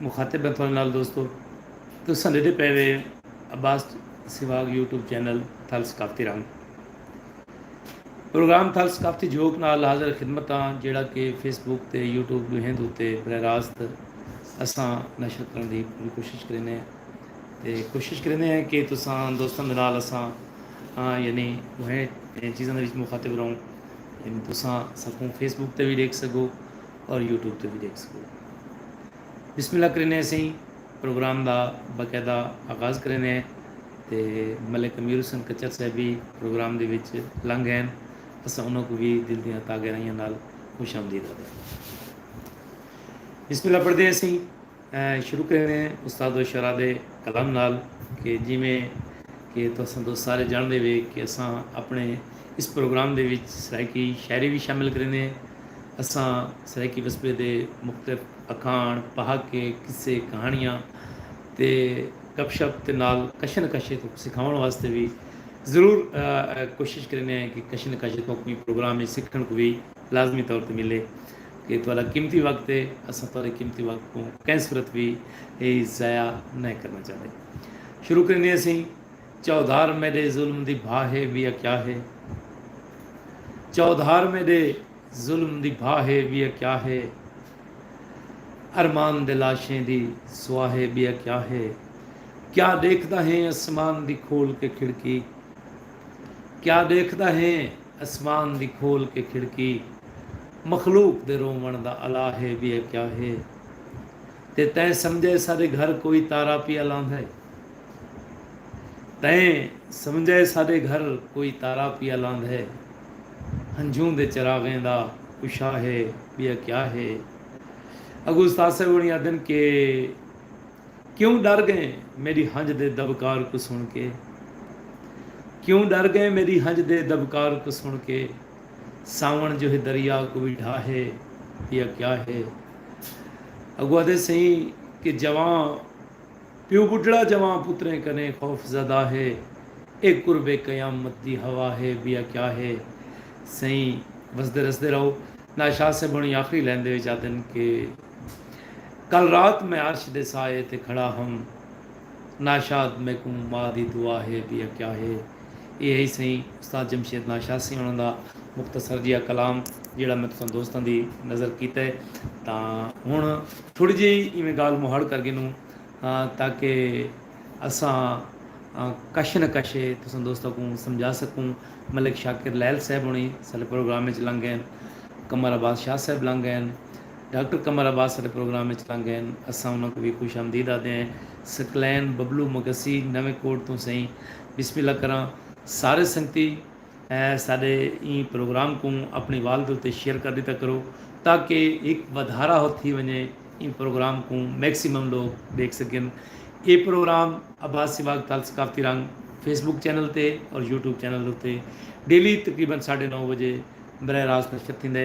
مخاطب ہیں تھوڑے نال دوستو تساں ڈیدھے پے وے Abbas swag YouTube channel Thal ثقافتی رنگ پروگرام تھل ثقافتی جھوک نال حاضر خدمت ہاں جیڑا کہ فیس بک تے یوٹیوب ڈوہیں دوتے براہ راست اساں نشر کرن دی پوری کوشش کرینے ہیں تے کوشش کرینے ہیں کہ تساں دوستاں دے نال اساں یعنی وہیں چیزاں دے وچ مخاطب رہوں یعنی تساں سکوں فیس بک تے بھی دیکھ سکو اور یوٹیوب تے وی ڈیکھ سگدے۔ بسم اللہ کریندے اسیں پروگرام دا باقاعدہ آغاز کریندے ہیں تے ملک امیر حسین کچر صاحب وی پروگرام دے وچ لنگ ہین اساں انہاں کوں وی دل دیاں تاں گہرائیاں نال خوش آمدید آدھدے ہیں۔ بسم اللہ پڑھدے اسیں۔ شروع کریندے ہیں استاد و شعراء دے کلام نال کہ جیویں کہ تساں تو سارے جاندے وے کہ اساں اپنے اس پروگرام دے وچ سرائیکی شاعری وی شامل کریندے ہیں اساں سرائیکی وسبے دے مختلف اکھاݨ پہاکے قصے کہاݨیاں تے گپ شپ تے نال کشے نہ کشے تہاکوں سکھاوݨ واسطے وی ضرور کوشش کریندے ہیں کہ کشے نہ کشے تہاکوں ایں پروگرام وچ سکھݨ کوں وی لازمی طور تے ملے اے تہاڈا قیمتی وقت اے، اساں تہاڈے قیمتی وقت کوں کہیں صورت وی ضائع نئیں کرݨا چاہندے۔ شروع کریندے ہسیں، چوہدار میڈے ظلم دی بھا ہے ویا کیا ہے؟ چوہدار میڈے ظلم دی بھا ہے ویا کیا ہے؟ ارمان دے لاشیں دی سوا ہے بیا کیا ہے؟ کیا ڈیکھدا ہیں اسمان دی کھول کے کھڑکی؟ کیا ڈیکھدا ہیں؟ اسمان دی کھول کے کھڑکی مخلوق دے روون دا الا ہے بیا کیا ہے تے تیں سمجھا ہے ساڈے گھر کوئی تارا پیا لاندا ہے تیں سمجھا ہے ساڈے گھر کوئی تارا پیا لاندا ہے ہنجھوں دے چراغیں دا اشا ہے بیا کیا ہے اگو استاد صاحب ہونی آدھن کہ کیوں ݙر ڳئیں میݙی ہنڄ دے دٻکار کوں سݨ کے کیوں ݙر ڳئیں میݙی ہنڄ دے دٻکار کوں سݨ کے ساوݨ جو ہے دریا کوں وی ڈھا ہے یا کیا ہے اڳوں آہدے سئیں کہ جوان پیو ٻڈھڑا جوان پتریں کنیں خوف زدہ ہے اے قرب قیامت دی ہوا ہے یا کیا ہے سئیں وسدے رسدے رہو ناشاد صاحب ہݨی آخری لائن دے وچ آہدن کہ کل رات میں عرش دے سائے تے کھڑا ہم ناشاد میکوں ماء دی دعا ہے وی اکیا ہے۔ ایہ ہئی سئیں استاد جمشید ناشاد سئیں انہاں دا مختصر جیہا کلام جیہڑا میں تساں دوستاں دی نظر کیتا ہے تاں ہن تھوڑی جیہی ایویں گالھ مہاڑ کر گھنوں تاکہ اساں کش نہ کش تساں دوستاں کوں سمجھا سکوں۔ ملک شاکر لیل صاحب ہنڑی ساڈے پروگرام وچ لنگ گئین۔ قمر عباس شاہ صاحب لنگ گئین۔ ڈاکٹر قمر عباس ساڈے پروگرام اچ لنگ ہن اساں انہاں کوں وی خوش آمدید آدھے ہیں سکلین ببلو مگسی نویں کوٹ توں سئیں بسم اللہ کراں سارے سنگتی ساڈے ایں پروگرام کوں اپنی وال دے اتے شیئر کر ڈیتا کرو تاکہ ہک ودھارا ہو تھی ونجے ایں پروگرام کوں میکسیمم لوگ ڈیکھ سکن اے پروگرام عباس سواگ تال ثقافتی رنگ فیس بک چینل تے اور یوٹیوب چینل دے اتے ڈیلی تقریبا ساڈے نو بجے براہ راست نشر تھیندے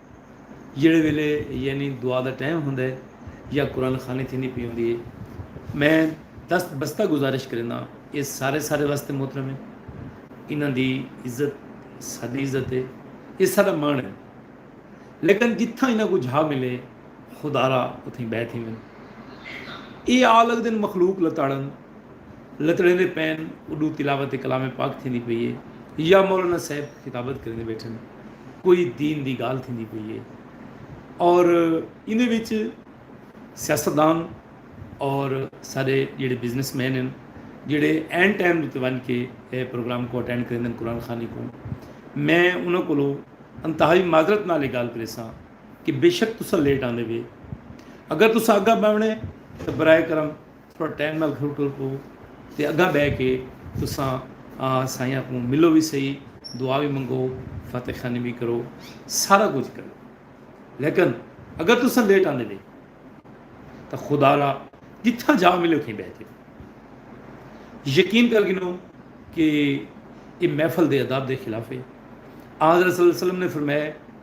جیڑھے ویلے یعنی دعا دا ٹائم ہوندا ہے یا قرآن خوانی تھیندی پئی ہوندی ہے میں دست بستہ گزارش کرینداں اے سارے سارے واسطے محترم ہے انہاں دی عزت ساڈی عزت ہے اے ساڈا مان ہے لیکن جتھاں انہاں کوں جھا ملے خدارا اتھیں بہہ تھیون اے آ لگدن مخلوق لتاڑن لتڑیندے پئن اڈوں تلاوت کلام پاک تھیندی پئی اے یا مولانا صاحب خطابت کریندے بیٹھن کوئی دین دی گال تھیندی پئی اے اور ایندے وچ سیاستدان اور سارے جڑے بزنس مین ہیں جڑے این ٹائم تے ون کے اے پروگرام کو اٹینڈ کریندے قرآن خانی کو میں انہاں کولو انتہائی معذرت نال گال کریساں کہ بے شک تسا لیٹ آندے وے اگر تسا اگا بہنے تو برائے کرم تھوڑا ٹائم نال گھر ٹر پو تے اگاں بہہ کے تساں سائیاں کوں ملو وی سہی، دعا وی منگو، فاتح خوانی وی کرو، سارا کجھ کرو۔ لیکن اگر تساں لیٹ آندے وے تاں خدا را جتھاں جا ملے اتھیں بہہ کے پڑھو۔ یقین کر گھنو کہ ایہ محفل دے آداب دے خلاف ہے۔ آنحضرت صلی اللہ علیہ وسلم نے فرمایا ہے۔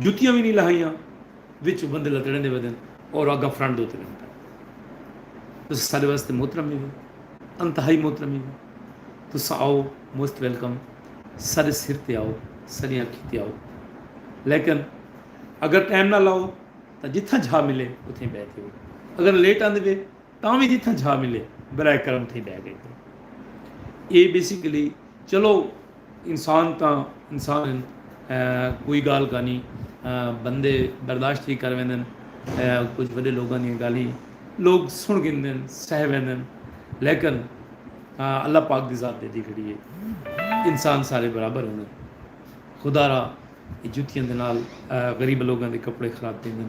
جتیاں وی نی لہائیاں وچ بندے لتڑیندے ویندن اور اگاں فرنٹ دے اتے ویندے پئے تساں ساڈے واسطے محترم ہیوے انتہائی محترم ہیوے تساں آؤ موسٹ ویلکم ساڈے سر تے آؤ ساڈی اکھی تے آؤ لیکن اگر ٹائم نہ لاؤ تاں جتھاں جھا ملے اتھیں بیٹھے ہو اگر لیٹ آندے وے تاں وی جتھاں جھا ملے برائے کرم تھیں ڈہ گئے کرو اے بیسیکلی چلو انسان تاں انسان ہیں کوئی گال کانی بندے برداشت ہی کر ویندن کچھ بڑے لوگوں دیا گالی لوگ سن گندن سہ ویندن لیکن اللہ پاک دی ذات دے دی کھڑی ہے انسان سارے برابر ہوندے خدا را جتیاں دے نال غریب لوگوں دے کپڑے خراب تھیندن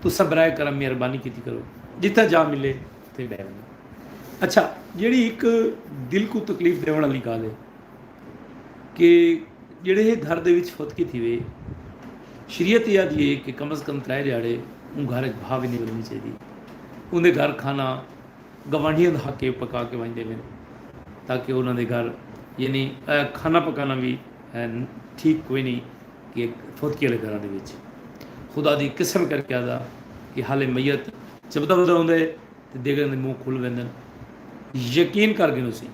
تساں برائے کرم مہربانی کیتی کرو جتھاں جاہ ملے اتھے بہہ ونجو۔ اچھا جیڑھی ہک دل کوں تکلیف ڈیونڑ آلی گالھ ہے کہ جیڑھے ہے گھر دے وچ فتقی تھیوے شریعت ایہا دی ہے کہ کم از کم ترائے دیہاڑے اوں گھر اچ بھا ونجے ونجنی چاہیدی اوندے گھر کھانا گوانڈھیاں دا حق ہے پکا کے ونج ڈیون تاکہ انہاں دے گھر یعنی کھانا پکانا وی ٹھیک کوئی نی۔ کہ پھوتکی آلے گھراں دے وچ خدا دی قسم کر کے آہدا کہ حالے میت چبھدا پھردا ہوندا ہے تے دیگڑاں دے منہ کھل ویندن۔ یقین کر گھنوسی۔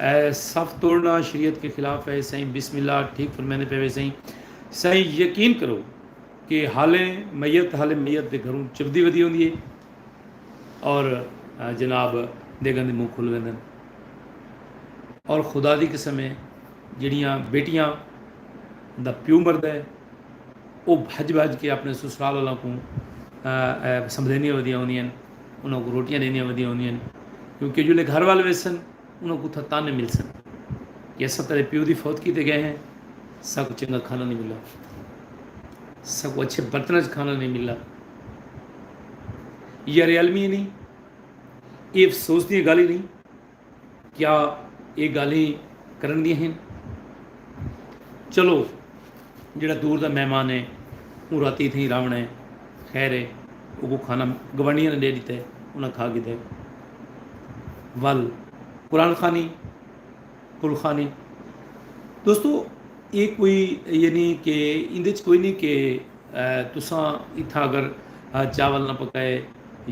اے صف توڑنا شریعت کے خلاف ہے سائیں بسم اللہ ٹھیک فرمیندے پے وے سائیں۔ سائیں یقین کرو کہ حالے میت حالے میت دے گھروں چبھدی ودی ہوندی ہے اور جناب دیگڑاں دے منہ کھل ویندن اور خدا دی قسم ہے جیڑھیاں بیٹیاں دا پیو مردے او بھج بھج کے اپنے سسرال والاں کوں سمبھلیندیاں ودیاں ہوندیاں ہن انہاں کوں روٹیاں ڈیندیاں ودیاں ہوندیاں ہن کیونکہ جلے گھر وال ویسن انہاں کوں اتھاں تانے ملسن کہ اساں تیرے پیو دی فوت کیتے گئے ہیں ساکوں چنگا کھانا نہیں ملا ساکوں اچھے برتن وچ کھانا نہیں ملا یار علمی نہیں یہ افسوس دی گالھی نہیں کیا ایہ گالھیں کرݨ دیاں ہن؟ چلو جیڑھا دور دا مہمان ہے اوں راتی اتھیں ہی راہوݨا ہے۔ خیر ہے اوکوں کھانا گوانڈیاں نے ݙے ݙتا ہے انہاں کھا گھدا ہے۔ ول قرآن خوانی کل خوانی دوستو ایہ کوئی یہ نی کہ ایندے وچ کوئی نی کہ تساں اتھاں اگر چاول نہ پکائے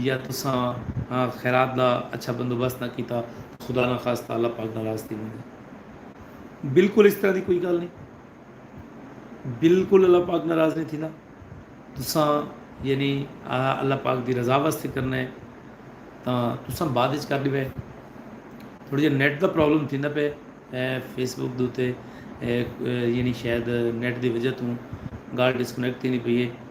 یا تساں خیرات دا اچھا بندوبست نہ کیتا تاں خدا نہ خواستہ اللہ پاک ناراض تھی ویندے۔ بالکل اس طرح دی کوئی گالھ نہیں۔ بالکل اللہ پاک ناراض نہیں تھیندا۔ تساں یعنی اللہ پاک دی رضا واسطے کرنا ہے تاں تساں بعد وچ کر ڈیوے۔ تھوڑا جہا نیٹ دا پرابلم تھیندا پے فیس بک دوتے یعنی شاید نیٹ دی وجہ توں گالھ ڈسکنیکٹ تھیندی پئی ہے۔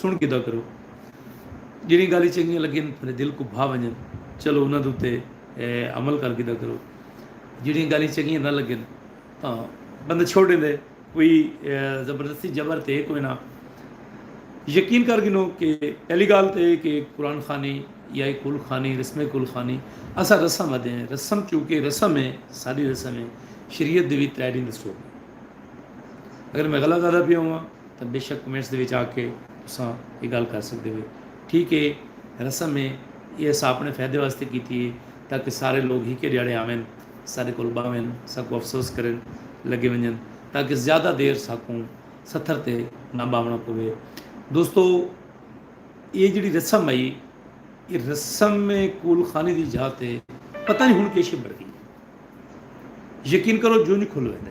سݨ گھدا کرو۔ جیڑھیاں گالھیں چنگیاں لگن تھاڈے دل کوں بھا ونجن چلو انہاں دے اتے عمل کر گھدا کرو۔ جیڑھیاں گالھیں چنگیاں نہ لگن تاں بندہ چھوڑ ݙیندے کوئی زبردستی جبر تے کوئی نہ۔ یقین کر گھنو کہ پہلی گالھ تے ایہ کہ قرآن خوانی یا ایہ کل خوانی رسم کل خوانی اساں رسم آدھے ہیں رسم چونکہ رسم ہے ساݙی رسم ہے شریعت دے وی ترے ݙینہہ دسو۔ اگر میں غلط آدھا پیا ہواں۔ تاں بیشک کمنٹس دے وچ آ کے تساں ایہ گالھ کر سکدے ہوے ٹھیک اے رسم اے ایہ اساں آپنڑے فیدے واسطے کیتی اے تاکہ سارے لوگ ہکے ڈیہاڑے آون ساڈے کول باہون ساکوں افسوس کرن لگے ونجن تاکہ زیادہ دیر ساکوں ستھر تے نہ باہونڑاں پوے دوستو ایہ جیڑھی رسم ائی ایہ رسم کول خانی دی جاہ تے پتہ نی ہن کیشے بڑ گئی یقین کرو جوں جوں کھل ویندے۔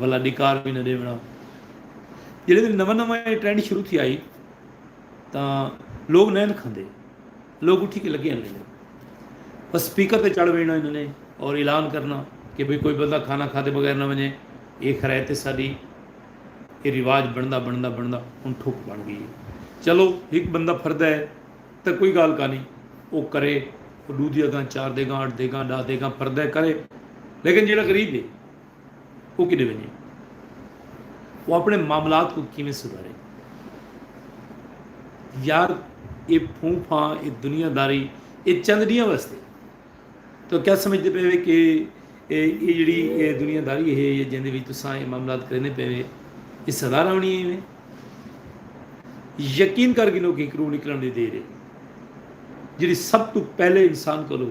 ولا ڈکار وی نہ ڈیونڑاں جیڑے دن نواں نواں اے ٹرینڈ شروع تھی آئی تاں لوگ نین کھندے لوگ اٹھی کے لگے ہن بس سپیکر تے چڑھ وینا انہاں نے اور اعلان کرنا کہ بھئی کوئی بندہ کھانا کھادے بغیر نہ ونجے یہ خرائط ساڈی یہ رواج بندا بندا بندا ہن ٹھک بن گئی چلو ایک بندہ پھردا ہے تے کوئی گال کا نہیں وہ کرے ڈو دیا گاں چار دے گاں اٹھ دے گاں ڈا دے گاں پھردا ہے کرے لیکن جیڑا غریب ہے او کݙے ونڄے؟ او اپݨے معاملات کوں کیویں سدھارے؟ یار اے پھوں پھاں، اے دنیا داری اے چند ݙینہاں واسطے ہے۔ تہاں کیا سمجھدے پئے وے کہ اے جیڑھی اے دنیا داری ہے یا جیندے وچ تساں اے معاملات کریندے پئے وے اے سدا رہݨی ہے وے؟ یقین کر گھنو کہ ہکرو نکلݨ دی دیر ہے جیڑھی سب توں پہلے انسان کولو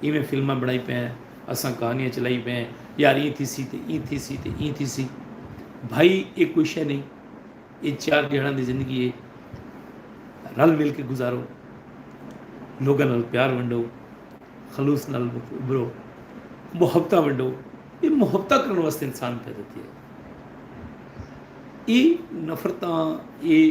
ایویں فلماں بݨائی پئے ہیں، اساں کہانیاں چلائی پئے ہیں، یار ایں تھیسی تے ایں تھیسی تے ایں تھیسی۔ بھائی اے کوئی شے نئیں، اے چار ݙیہاڑاں دی زندگی اے، رل مل کے گزارو، لوکاں نال پیار ونڈو، خلوص نال ابھرو، محبتاں ونڈو، اے محبتاں کرݨ واسطے انسان پیدا تھیے۔ اے نفرتاں اے۔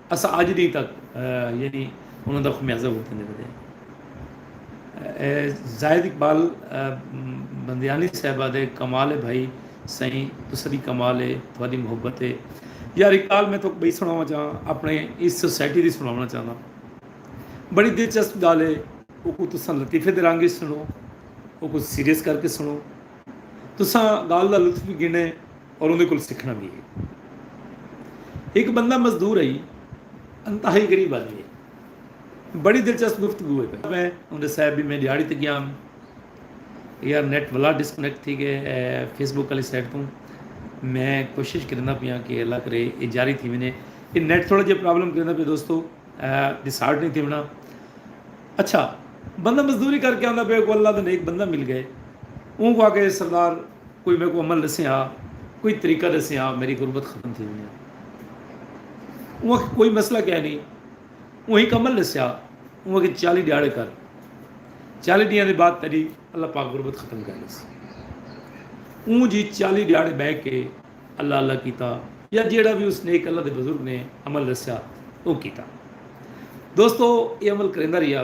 اساں اج ڈینہہ تک یعنی انہاں دا خمیازہ بھگتندے پئے ہیں۔ زاہد اقبال بندیانی صاحبہ دے کمال ہے بھائی سائیں تساں دی کمال ہے تہاڈی محبت ہے۔ یار اقبال میں تہاکوں بئی سناواں چاہاں اپنے اس سوسائٹی دی سناونا چاہنداں۔ بڑی دلچسپ گالھ ہے اوکوں تساں لطیفے دے رنگ وچ سنو اوکوں سیریس کر کے سنو تساں گالھ دا لطف وی گھنڑیں۔ اور اوندے کول سکھݨا وی ہے۔ ہک بندہ مزدور ہئی۔ انتہائی غریب آدمی ہئی۔ بڑی دلچسپ گفتگو ہوئی پئی۔ میں اوندے صاحب دی میں ݙیہاڑی تے ڳیام۔ یار نیٹ ولا ڈسکنیکٹ تھی ڳئے اے فیس بک آلی سائٹ توں۔ میں کوشش کریندا پیاں کہ اللہ کرے اے جاری تھی ونڄے۔ اے نیٹ تھوڑا جیہا پرابلم کریندا پئے دوستو۔ ݙیسارٹ نئیں تھیوݨا۔ اچھا بندہ مزدوری کر کے آندا پئے اونکوں اللہ دا نیک بندہ مل ڳئے۔ اونکوں آکھئے سردار۔ کوئی میکوں عمل ݙسیں ہا کوئی طریقہ ݙسیں ہا میری غربت ختم تھی ونڄے اوں آکھیا کوئی مسئلہ کہہ نہیں اوں ہک عمل ݙسیا اوں آکھیا چالی ݙیہاڑے کر چالی ݙینہاں دے بعد تیݙی اللہ پاک غربت ختم کر ݙیسی اوں جی چالی ݙیہاڑے بہ کے اللہ اللہ کیتا یا جیڑا بھی اس نیک اللہ دے بزرگ نے عمل ݙسیا او کیتا دوستو اے عمل کریندا رہیا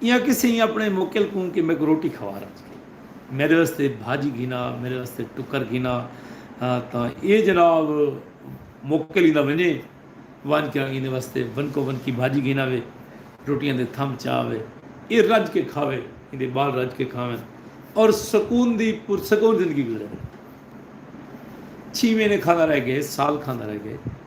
ایاں کسے ہی اپنے موکل کوں کہ میکوں روٹی کھوا رج کے میڈے واسطے بھاجی گھنا میڈے واسطے ٹکر گھنا تاں ایہ جناب موکل ہی نہ ونجے ونج کے ایندے واسطے ونکو ونکی بھاجی گھنا وے روٹیاں دے تھم چا وے ایہ رج کے کھاوے ایندے بال رج کے کھاون اور سکون دی پرسکون زندگی گزرے چھیویں نے کھاندا رہ گئے سال کھاندا رہ گئے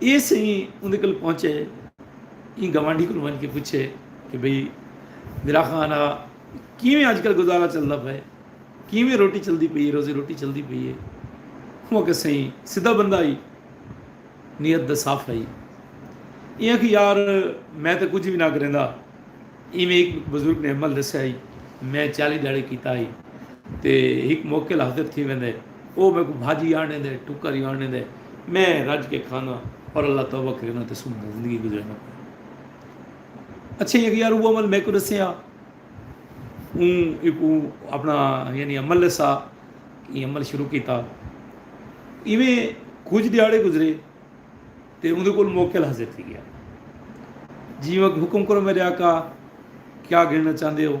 ایہ سئیں اوندے کول پہنچے ایں گوانڈھی کول ونج کے پچھے کہ بھئی میرا خان آ کیویں اج کل گزارا چلدا پئے کیویں روٹی چلدی پئی ہے روزی روٹی چلدی پئی ہے ہوں کہ سئیں سیدھا بندہ ہی نیت دا صاف ہئی ایاں کہ یار میں تے کچھ بھی نہ کریندا ایویں ایک بزرگ نے عمل دسیا ہی میں چالی ڈاڑے کیتا ہی تے ایک موکل حاضر تھی ویندے او میکوں بھاجی آنڑیندے، ٹکر ای آنڑیندے، میں رج کے کھاناں اور اللہ توبہ کرینداں تے سکھ نال زندگی گزرینداں پیاں۔ اچھے ہی اگے یار او عمل میکوں ڈسیا۔ اوں ایکوں اپنا یعنی عمل لسا ای عمل شروع کیتا۔ ایویں کچھ دیہاڑے گزرے تے اوندے کول موکل حاضر تھی گیا۔ جی وقت حکم کرو میرے آقا کیا گھننا چاہندے ہو؟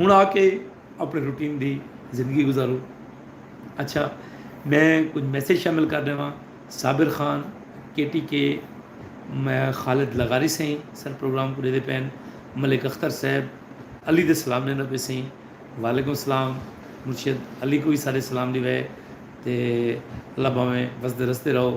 ہن آ کے اپنے روٹین دی زندگی گزارو اچھا میں کچھ میسج شامل کر دے واں صابر خان کے ٹی کے میں خالد لغاری سائیں سر پروگرام کو دے دے پین ملک اختر صاحب علی دے سلام دینا پہ سائیں وعلیکم السلام مرشد علی کو بھی سارے سلام دی وے تے اللہ باویں وسدے رستے رہو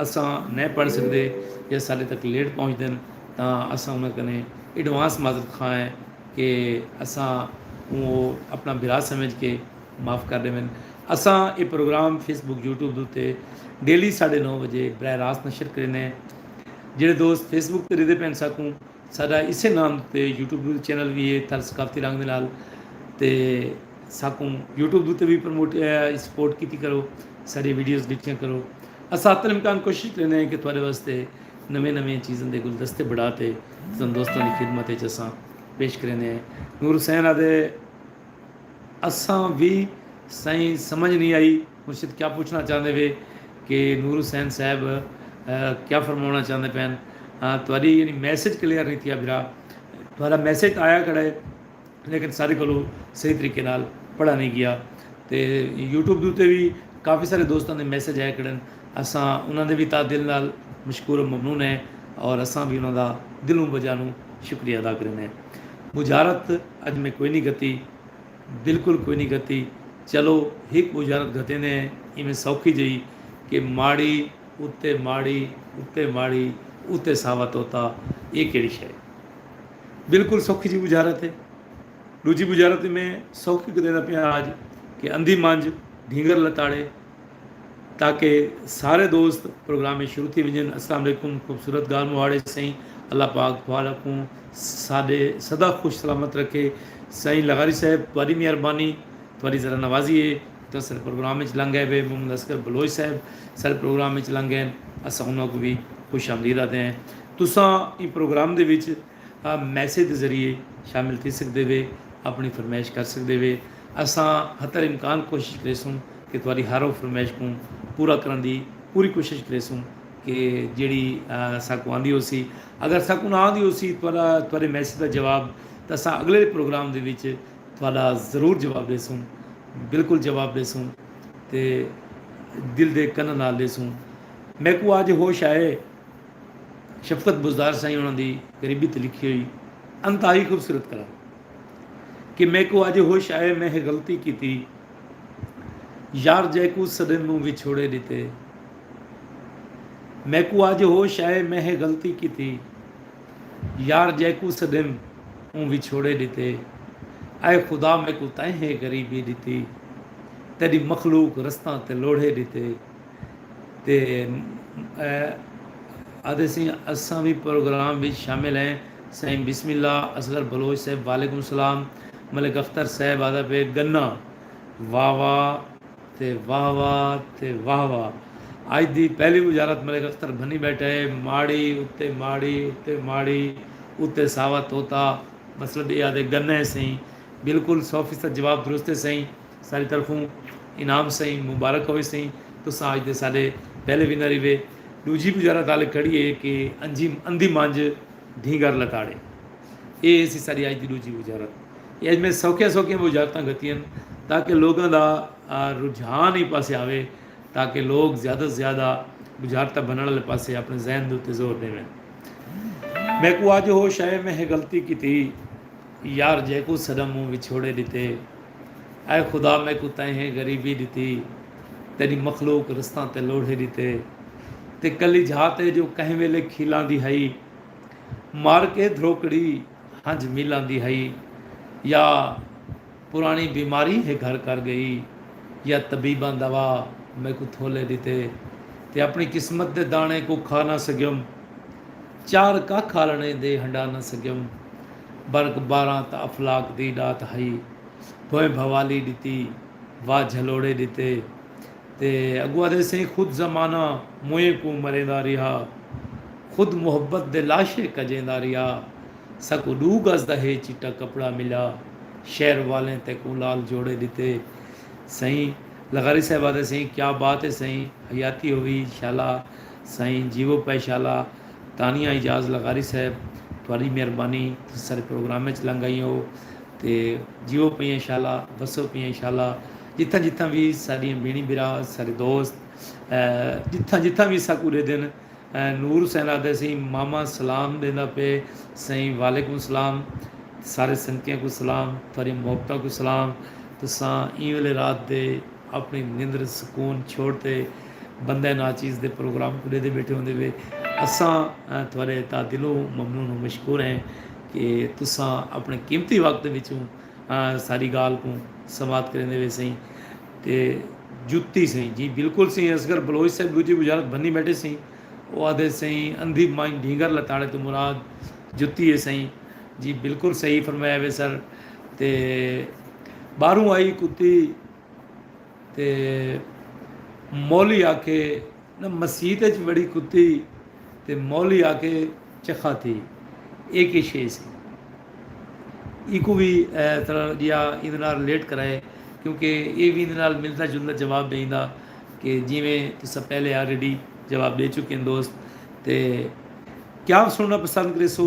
اساں نئیں پڑھ سگدے یا ساڈے تک لیٹ پہنچدن تاں اساں انہاں کنیں ایڈوانس معذرت خواہ ہیں کہ اساں کوں او اپنا بھرا سمجھ کے معاف کر ڈیون اساں اے پروگرام فیس بک یوٹیوب دے اتے ڈیلی ساڈے نو وجے براہ راست نشر کریندے ہیں جیڑھے دوست فیس بک تے ڈیدے پین ساکوں ساڈا اسے نام تے یوٹیوب چینل وی ہے تھل ثقافتی رنگ دے نال تے ساکوں یوٹیوب دوتے وی پروموٹ سپورٹ کیتی کرو ساری ویڈیوز ڈٹھیاں کرو اسا حتی الامکان کوشش کریندے ہیں کہ تھوڑے واسطے نویں نویں چیزاں دے گلدستے بڑھا تے تساں دوستاں دی خدمت وچ اساں پیش کریندے ہیں نور حسین آدھے اساں وی سائیں سمجھ نہیں آئی مرشد کیا پوچھنا چاہندے وے کہ نور حسین صاحب کیا فرمانا چاہندے پین تھوڑی یعنی میسج کلیئر نہیں تھیا بھرا تھوڑا میسج آیا کڑے لیکن سارے کولو صحیح طریقے نال پڑھا نہیں گیا تے یوٹیوب دے اتے وی کافی سارے دوستاں دے میسج آیا کھڑن اساں انہاں دے وی تہہ دل نال مشکور و ممنون ہیں اور اساں وی انہاں دا دلوں بجانوں شکریہ ادا کریندے ہیں بجارت اج میں کوئی نہیں گھتی بالکل کوئی نہیں گھتی چلو ہک بجارت گھتیندے ہیں ایویں سوکھی جئی کہ ماڑی اتے ماڑی اتے ماڑی اتے ساوا طوطا یہ کیڑی شے بالکل سوکھی جی بجھارت ہے۔ ڈوجھی بجھارت وی میں سوکھی کر دیندا پیاں آج کہ اندھی منجھ ڈھینگر لتاڑے تاکہ سارے دوست پروگرام شروع تھی ونجن۔ السلام علیکم خوبصورت گال مہاڑے سائیں اللہ پاک تھوڑا کوں ساڈے سدا خوش سلامت رکھے سائیں لغاری صاحب تہاڈی مہربانی تہاڈی ذرا نوازی ہے تساں ساڈے پروگرام وچ لنگ گئے وے محمد اصغر بلوچ صاحب ساڈے پروگرام وچ لنگ گئے اساں انہاں کوں وی خوش آمدید آکھدے ہیں۔ تساں ایں پروگرام دے وچ میسج دے ذریعے شامل تھی سگدے وے اپݨی فرمائش کر سگدے وے اساں حتی الامکان کوشش کریسوں کہ تہاݙی ہر او فرمائش کوں پورا کرݨ دی پوری کوشش کریسوں کہ جیڑھی ساکوں آندی ہوسی اگر ساکوں نہ آندی ہوسی تہاݙے میسج دا جواب تاں اساں اگلے پروگرام دے وچ تہاݙا ضرور جواب ݙیسوں بالکل جواب ݙیسوں تے دل دے کناں نال ݙیسوں میکوں اڄ ہوش آئے شفقت بزدار سائیں انہاں دی غریبی تے لکھی ہوئی انتہائی خوبصورت کلام کہ میکو اج ہوش آئے میں ہے غلطی کیتی یار جیکو سدن موں وچھوڑے ڈیتے میکو اج ہوش آئے میں ہے غلطی کیتی یار جیکو سدن موں وچھوڑے ڈیتے اے خدا میکو تائیں ہے غریبی ڈیتی تیری مخلوق رستاں تے لوڑھے ڈیتے تے آدھے سئیں اساں وی پروگرام وچ شامل ہیں سائیں بسم اللہ اصغر بلوچ صاحب وعلیکم السلام ملک اختر صاحب آدھا پے گنا واہ واہ تے واہ واہ تے واہ واہ اج دی پہلی وزارت ملک اختر بھنی بیٹھا ہے ماڑی اتے ماڑی اتے ماڑی اتے ساوا توتا مطلب اے آدھے گنا ہے سائیں بالکل سو فیصد جواب درست ہے سائیں ساݙی طرفوں انعام سئیں مبارک ہووے سئیں تساں اڄ دے ساݙے پہلے ونر ہیوے ݙوجھی گزارا تال کھڑی ہے کہ انجھی اندھی مانجھ دھینگر لتاڑے اے ہیسی ساݙی اڄ دی ݙوجھی وزارت اے اڄ میں سوکھیاں سوکھیاں وزارتاں گھتین تاکہ لوگاں دا رجحان ایں پاسے آوے تاکہ لوگ زیادہ توں زیادہ وزارتاں بݨݨ آلے پاسے اپݨے ذہن دے اتے زور ݙیون میکوں اڄ ہوش آئے میں ہے غلطی کیتی یار جیکوں سݙا مونہہ وچھوڑے ݙتے۔ اے خدا میکوں تیہیں غریبی ݙتی، تیݙی مخلوق رستاں تے لوڑھے ݙتے تے کلی جھا تے جو کہیں ویلے کھیلاندی ہئی مار کے دھروکڑی ہنج میلاندی ہئی یا پراݨی بیماری ہے گھر کر ڳئی یا طبیباں دوا میکوں تھولے ݙتے تے اپݨی قسمت دے داݨے کوں کھا نہ سڳیوم۔ چار ککھ آلݨے دے ہنڈا نہ سڳیوں۔ برک بارہاں تاں افلاک دی ݙات ہئی۔ بھوئیں بھوالی ݙتی، واہ جھلوڑے ݙتے۔ تے اڳوں آہدے سئیں خود زمانہ موئیں کوں مریندا ریہا۔ خود محبت دے لاشے کڄیندا ریہا۔ ساکوں ݙو گز دا ہے چٹا کپڑا ملیا۔ شہر والیں تیکوں لال جوڑے ݙتے۔ سئیں لغاری صاحب آہدے سئیں کیا بات ہے سئیں حیاتی ہووی شالا۔ سائیں جیوو پئے شالا تانیہ اعجاز لغاری صاحب تہاڈی مہربانی تسی سارے پروگرام اچ لنگ ائیں ہو تے جیوو پئیں شالا وسو پئیں شالا جتھاں جتھاں وی ساڈیاں بھینڑیں بھرا سارے دوست جتھاں جتھاں وی اساکوں ڈیدھن نور حسین آہدے سئیں ماما سلام ڈیندا پئے سائیں وعلیکم سلام سارے سنگتیاں کوں سلام تہاڈیاں محبتاں کوں سلام تساں ایں ویلے رات دے اپݨی نندر سکون چھوڑ تے بندہ ناچیز دے پروگرام کوں ݙیہدے ٻیٹھے ہوندے وے اساں تہاݙے تاں دلوں ممنون و مشکور ہیں کہ تساں اپݨے قیمتی وقت وچوں ساݙی ڳالھ کوں سماعت کریندے وے سئیں تے جتی سئیں جی بالکل سئیں اصغر بلوچ صاحب ݙوجھی بشارت بھنی ٻیٹھے سئیں او آہدے سئیں اندھی مائیں ڈھینگر لتاڑے توں مراد جتی ہے سئیں جی بالکل صحیح فرمایا وے سر تے باہروں آئی کتی تے مولی آکھے نہ مسیت اچ وڑی کتی تے مولی آکھے چخا تھی اے کے شے سی ایکو بھی طرح جیا ایندے نال ریلیٹ کرائے کیونکہ اے بھی ایندے نال ملتا جلتا جواب دیندا کہ جویں تسا پہلے آلریڈی جواب دے چکے ہیں دوست تے کیا سننا پسند کریسو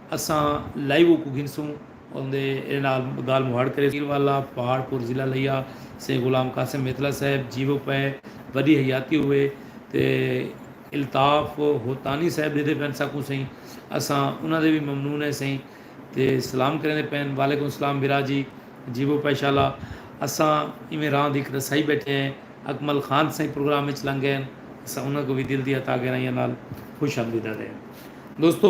اساں لائیو اوکوں گھنسوں اوندے ایندے نال گالھ مہاڑ کریسوں۔ پیر والا، پہاڑ پور ضلع لیا سے غلام قاسم میتلا صاحب جیوو پئے وڈی حیاتی ہوئے تے الطاف ہوتانی صاحب ڈیدھے پئن ساکوں سئیں اساں انہاں دے وی ممنون ہیں سئیں تے سلام کریندے پئن وعلیکم السلام بھرا جی جیوو پئے شالا اساں ایویں راند ہک رسائی بیٹھے ہیں اکمل خان سئیں پروگرام وچ لنگئے ہن اساں انہاں کوں وی دل دیاں تاں گہرائیاں نال خوش آمدیداں دیں دوستو۔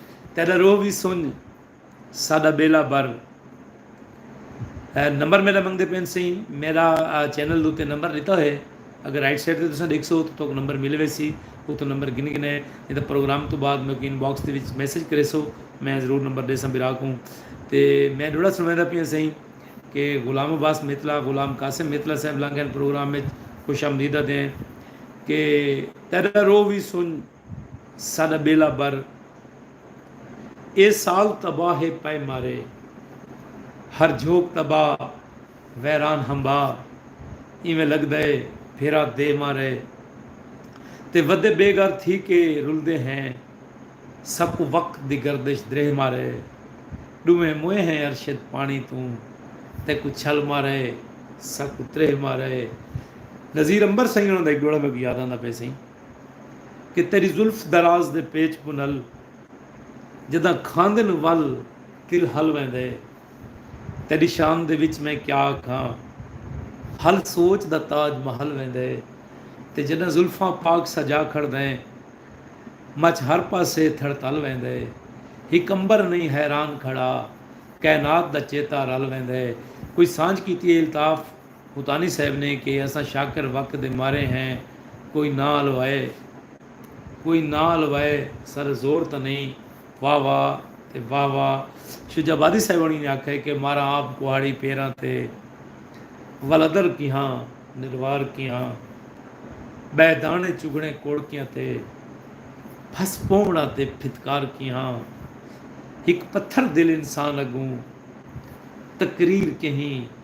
تیڈا روح وی سنج ساڈا بیلا بر۔ نمبر میڈا منگدے پین سئیں میڈا چینل دوتے نمبر ڈتا ہوئے اگر رائٹ سائیڈ تے تساں ڈیکھسو تو توک نمبر مل ویسی اتھوں نمبر گن گنے نی تاں پروگرام توں بعد میکوں ان باکس دے وچ میسج کریسو میں ضرور نمبر ڈیساں برا کوں تے میں ڈوڑا سنویندا پیاں سئیں کہ غلام عباس میتلا غلام قاسم میتلا صاحب لانگین پروگرام وچ خوش آمدید آدھے ہیں کہ تیرا روح وی سنج ساݙا ٻیلا بر اے سال تباہ ہے پئے مارے ہر جھوک تباہ ویران ہمبا ایویں لڳدا اے پھیرا دے مارے تے ودے بے گھر تھی کے رلدے ہیں ساکوں وقت دی گردش دریہہ مارے ݙوہیں موئے ہیں ارشد پاݨی توں تیکوں چھل مارے ساکوں تریہہ مارے نذیر عنبر سئیں انہاں دا ہک ݙوہڑا میکوں یاد آندا پئے سئیں۔ کہ تیݙی زلف دراز دے پیچ کوں نل جݙاں کھاندن ول کل ہل ویندے تیݙی شان دے وچ میں کیا آکھاں ہل سوچ دا تاج مہل ویندے تے جݙاں زلفاں پاک سجا کھڑدیں مچ ہر پاسے تھڑتل ویندے ہک عنبر نئیں حیران کھڑا کائنات دا چیتا رل ویندے کوئی سانجھ کیتی اے الطاف۔ متانی صاحب نے کہ اساں شاکر وقت دے مارے ہیں کوئی نہ الوائے کوئی نہ الوائے سر زور تاں نہیں واہ واہ تے واہ واہ شجاع آبادی صاحب ہنی نے آکھئے کہ ماراں آپ کوہاڑی پیراں تے ولدر کیہاں نروار کیہاں بہہ دانے چگھنے کوڑکیاں تے پھس پونوڑاں تے پھتکار کیہاں ہک پتھر دل انسان اگوں تقریر کہیں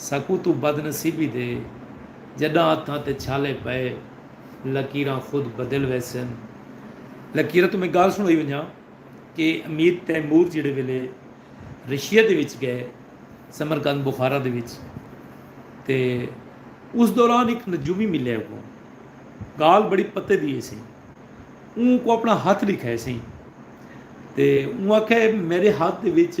سکوں توں بد نصیبی دے جڈاں ہتھاں تے چھالے پئے لکیراں خود بدل ویسن لکیراں توں میں گالھ سنڑائی ونجاں کہ امیر تیمور جیڑھے ویلے رشیا دے وچ گئے سمرقند بخارا دے وچ تے اس دوران ایک نجومی ملے کو گالھ بڑی پتے دیے سی اون کو اپنا ہاتھ لکھائے سی تے اون آکھے میرے ہاتھ دے وچ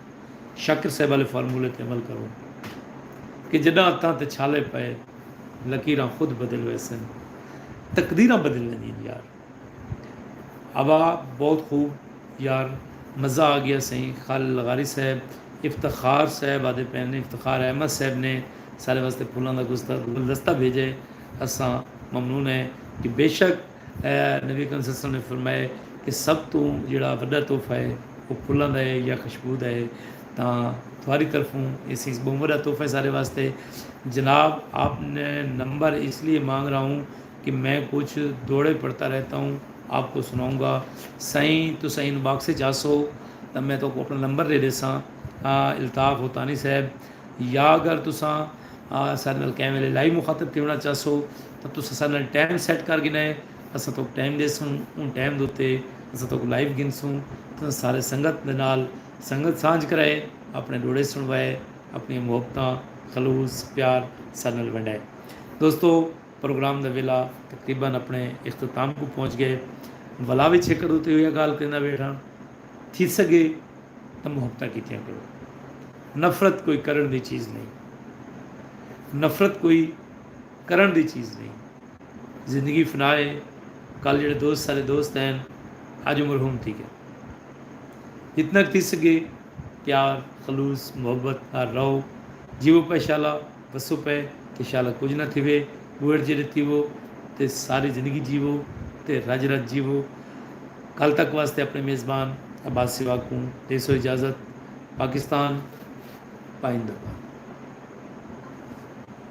شاکر صاحب آلے فارمولے تے عمل کرو کہ جڈاں اتاں تے چھالے پئے لکیراں خود بدل ویسن تقدیراں بدل ویندین یار اوا بہت خوب یار مزہ آ گیا سئیں خالد لغاری صاحب افتخار صاحب آدھے پین افتخار احمد صاحب نے سارے واسطے پھولاں دا گلدستہ بھیجے اساں ممنون ہیں کہ بیشک اے نبی اکرم صلی اللہ علیہ وسلم نے فرمایا کہ سب توں جیڑھا وڈا تحفہ ہے او پھلاں دا ہے یا خشبو دا ہے تاں تھاری طرفوں اس ہیس بہوں وڈا تحفہ ہے سارے واسطے جناب آپ نے نمبر اس لیے مانگ رہا ہوں کہ میں کچھ دوڑے پڑھتا رہتا ہوں آپ کو سناؤں گا سائیں تو سائیں ان باکس وچ آسو تاں میں تو کو اپنا نمبر دے دیساں الطاف ہوتانی صاحب یا اگر تساں سارے نال کیمرے لائیو مخاطب تھیونا چاہسو تاں تساں ساڈے نال ٹائم سیٹ کر گھننا ہے اساں تہاکوں ٹائم ڈیسوں اوں ٹائم دے اتے اساں تہاکوں لائیو گھنسوں تساں سارے سنگت دے نال سنگت سانجھ کرائے اپنے ڈوہڑے سنڑوائے اپنیاں محبتاں خلوص پیار ساڈے نال ونڈائے دوستو پروگرام دا ویلا تقریبا اپنے اختتام کوں پہنچ گئے ولا وچ ہک ادو تے ہویا گال کریندا ویٹھاں تھی سگے تاں محبتاں کیتیاں کرو نفرت کوئی کرن دی چیز نہیں نفرت کوئی کرݨ دی چیز نئیں۔ زندگی فنا ہے، کل جیڑھے دوست سارے دوست ہین، اڄ مرحوم تھی ڳن۔ جتنا ک تھی سڳے پیار، خلوص، محبت نال رہو، جیوو پئے شالا وسو پئے تے شالا کجھ نہ تھیوے، ٻوہڑ جیڑھے تھیوو تے ساری زندگی جیوو تے رڄ رڄ جیوو۔ کل تک واسطے اپݨے میزبان عباس سواڳ کوں ݙیسو اجازت۔ پاکستان پائندہ باد۔